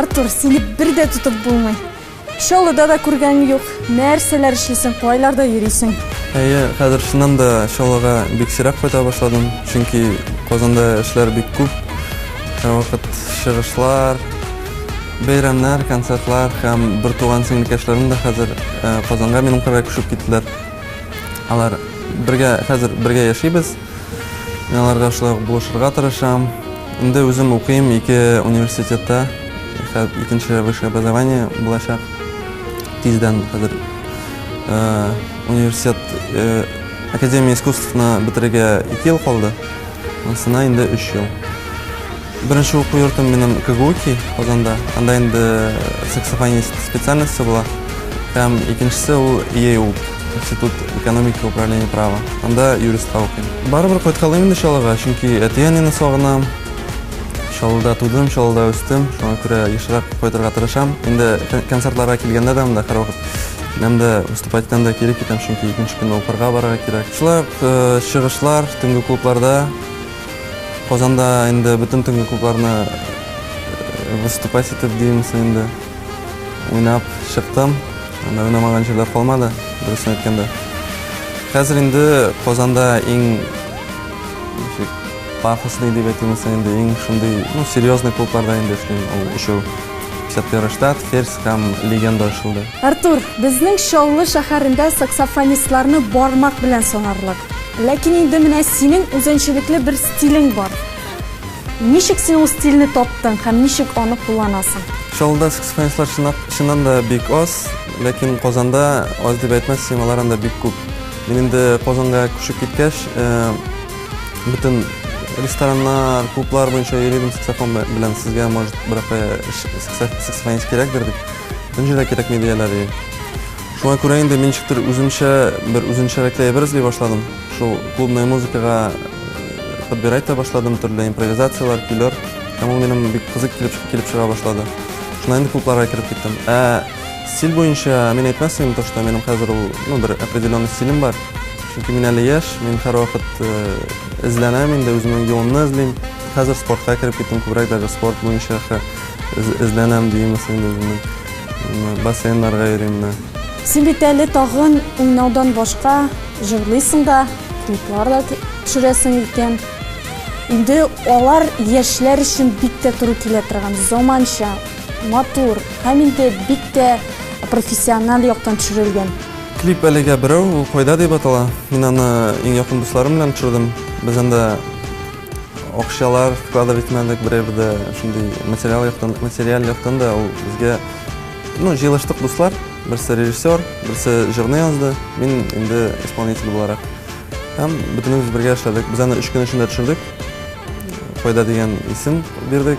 Артур, сине бер дә тотып булмый. Чаллыда да күргәнең юк. Нәрсәләр эшлисең, кайларда йөрисең? Әйе, хәзер чыннан да Чаллыга бик сирәк кайта башладым, чөнки Казанда эшләр бик күп. Һәрвакыт чыгышлар, Бәйрәмнәр, концертлар һәм бертуган сеңлекәшләрем дә хәзер э, Казанга минем кырга күчеп киттеләр. Алар бергә хәзер бергә яшибез. Мин аларга шулай ук булышырга тырышам. Инде үзем укыйм ике университетта. Икенче высшее образование булачак. Тиздән хәзер э, университет э, Академия искусствына бетерергә 2 ел калды. Монсына инде 3 ел. Беренче уку йортым минем КГУКИ Казанда. Анда инде саксофонист специальносте була. Һәм икенчесе ул ИЭУП, Институт экономики управления права. Анда юристка укыйм. Барыбер кайткалыйм инде Чаллыга, чөнки әти-әнине сагынам. Чаллыда тудым, Чаллыда үстем. Шуңа күрә ешрак кайтырга тырышам. Инде концертларга килгәндә дә монда һәрвакыт киләм дә, выступать итәм дә, кире китәм, чөнки икенче көнне укырга барырга кирәк. Шулай ук чыгышлар, төнге клубларда. Казанда инде бөтен төнге клубларны выступать итеп димсе инде уйнап чыктым. Анда уйнамаган җирләр калмады, дөресен әйткәндә. Хәзер инде Казанда иң ничек пафосный дип әйтимсе инде иң шундый, ну, серьезный клубларда инде эшлим. Ул өчәү. Сәптер Штат, Ферзь Там легенда ачылды. Артур, безнең Чаллы шәһәрендә саксофонистларны бармак белән санарлык. Ләкин инде менә синең үзенчәлекле бер стилең бар. Ничек син ул стильне таптың һәм ничек аны кулланасың? Чаллыда саксофонистлар чыннан да бик аз, ләкин Казанда аз дип әйтмәссең, алар анда бик күп. Мин инде Казанга күчеп киткәч, Бөтен рестораннар, клублар буенча йөридем саксофон белән. Сезгә, может, берәпе саксофонист кирәкдер дип. Энҗе дә кирәкми дияләр. Шуңа күрә инде мин ничектер үземчә бер үзенчәлекле әйбер эзли башладым. Шул клубная музыкага э, подбирать та башладым, төрле импровизацияләр, көйләр. Һәм ул минем бик кызык килеп, килеп чыга башлады. Шуннан инде клубларга кереп киттем. Ә стиль буенча мин әйтмәс идем, то, что минем хәзер ул, ну, бер определенный стилем бар. Чөнки мин әле яшь, мин һәрвакыт эзләнәм инде, үземнең юлымны эзлим. Хәзер спортка кереп киттем, күбрәк даже спорт буенча эзләнәм димес инде үземнең. Бассейннарга йөрим. Син бит әле тагын уйнаудан башка җырлыйсың да, клиплар да төшерәсең икән. Инде алар яшьләр өчен бик тә туры килә торган, заманча, матур һәм инде бик тә профессиональ яктан төшерелгән. Клип әлегә берәү, ул Кайда дип атала. Мин аны иң якын дусларым белән төшердем. Без анда акчалар вкладывать итмәдек, берәү дә шундый материал яктан, материаль яктан да ул безгә ну, җыелыштык дуслар, берсе режиссер, берсе җырны язды, мин инде исполнитель буларак. Һәм бөтенебез бергә эшләдек. Без аны өч көн эчендә төшердек. Кайда дигән исем бирдек.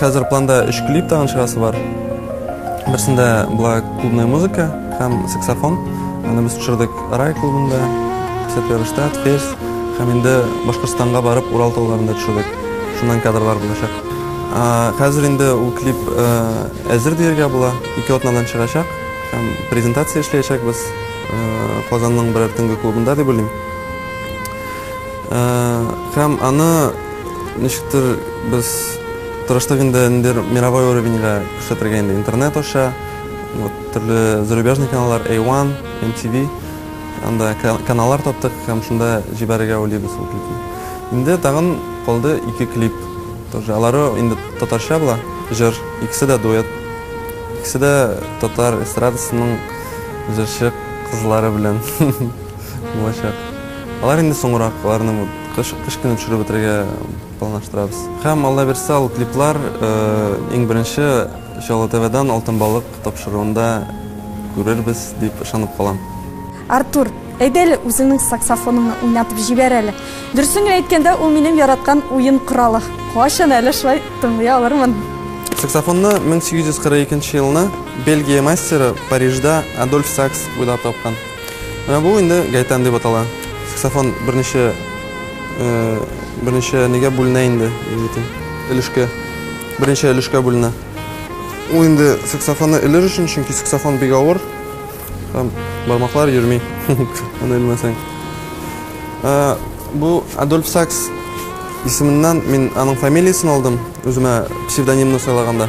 Хәзер планда өч клип тагын чыгасы бар. Берсендә була клубная музыка һәм саксофон. Аны без төшердек Рай клубында, Сәпәрштә, Тверь һәм инде Башкортстанга барып Урал тауларында төшердек. Шуннан кадрлар булачак. Хәзер инде ул клип э, әзер диергә була, ике атнадан чыгачак һәм презентация эшләячәкбез. Казанның берәр төнге клубында дип уйлыйм. Һәм аны ничектер без тырыштык инде ниндер мировой уровеньга күрсәтергә инде интернет аша. Вот төрле зарубежный каналлар A1, MTV анда каналлар таптык һәм шунда җибәрергә уйлыйбыз ул клипны. Инде тагын калды ике клип. Тоже алары инде татарча була, җыр, икесе дә дуэт. Икесе дә татар эстрадасының җырчы кызлары белән булачак. Алар инде соңрак, аларны кыш, кыш көне төшереп бетерергә планлаштырабыз. Һәм Алла бирса, ул клиплар иң беренче Чаллы ТВдан Алтын балык тапшыруында күрербез дип ышанып калам. Артур. Әйдә әле үзеңнең саксофоныңны уйнатып җибәр әле. Дөресен генә әйткәндә, ул минем яраткан уен коралы. Кайчан әле шулай тыңлый алырмын? Саксофонны 1842 елны Бельгия мастеры Парижда Адольф Сакс уйлап тапкан. Менә бу инде гайтан дип атала. Саксофон берничә берничә нигә бүленә инде, егетем. Өлешкә. Берничә өлешкә бүленә. Ул инде саксофонны өлер өчен, чөнки саксофон бик авыр. Там бармаклар йөрми, аны белмәсәң. Бу Адольф Сакс исеменнән мин аның фамилиясен алдым, үземә псевдонимны сайлаганда.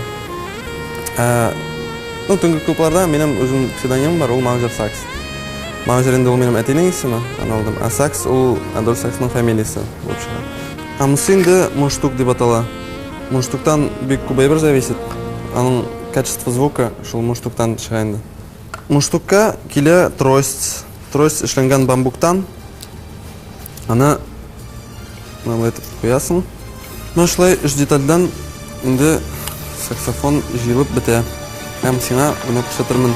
Ну, төнге клубларда минем үзем псевдонимым бар, ул Маузер Сакс. Маузер инде ул минем әтинең исеме, аны алдым. А Сакс ул Адольф Саксның фамилиясе булып чыга. А монысы инде мундштук дип атала. Мундштуктан бик күп әйбер зависит. Аның качество звука шул мундштуктан чыга инде. Муштукка килә трость. Трость эшләнгән бамбуктан. Аны мынандай итеп куясың. Менә шулай өч детальдән инде саксофон җыелып бетә. Һәм сиңа моны күрсәтермен.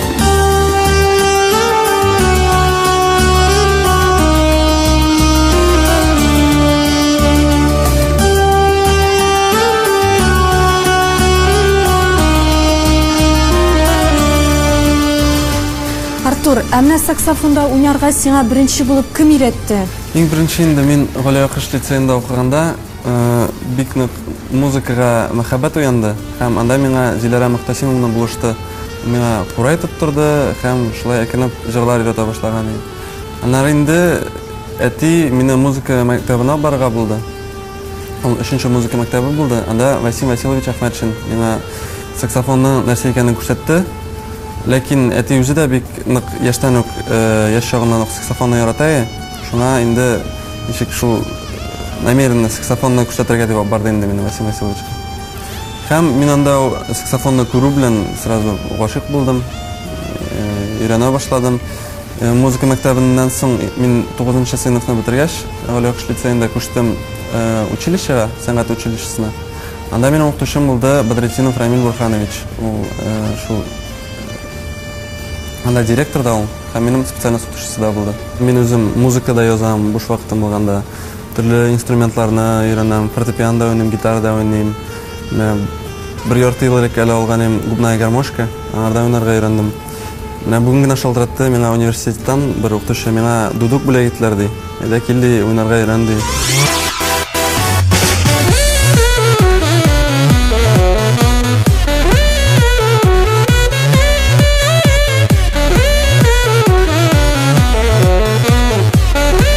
Артур, ә менә саксофонда уйнарга сиңа беренче булып кем өйрәтте? Иң беренче инде мин Галия Кыш лицеенда укыганда э, бик нык музыкага мәхәббәт уянды һәм анда миңа Зиләрә Мөхтәсимовна булышты. миңа курай тоттырды һәм шулай әкренләп җырлар өйрәтә башлаган идем. Аннары инде әти мине музыка мәктәбенә барырга булды. Ул өченче музыка мәктәбе булды. Анда Васим Васильевич Ахмәтшин миңа саксофонның нәрсә икәнен күрсәтте. Ләкин әти үзе дә бик нык яшьтән үк, яшь чагыннан ук саксофонны ярата иде. Шуңа инде ничек шул намеренно саксофонны күрсәтергә дип алып барды инде мине Васим Васильевичка. Һәм мин анда саксофонны күрү белән сразу гашыйк булдым, өйрәнә башладым. Музыка мәктәбеннән соң мин 9 нчы сыйныфны бетергәч, Галиакыш лицеенда күчтем училищега, сәнгать училищесына. Анда минем укытучым булды Бадретдинов Рамил Бурханович. Ул шул анда директор да ул һәм минем специальность укытучысы да булды. Мин үзем музыка да язам буш вакытым булганда. Төрле инструментларны өйрәнәм. Фортепиано да уйныйм, гитара да уйныйм. Менә бер ярты ел элек әле алган идем губная гармошка. Аңарда уйнарга өйрәндем. Менә бүген генә шалтыратты миңа университеттан бер укытучы, миңа дудук бүләк иттеләр, ди. Әйдә кил, ди, уйнарга өйрән, ди.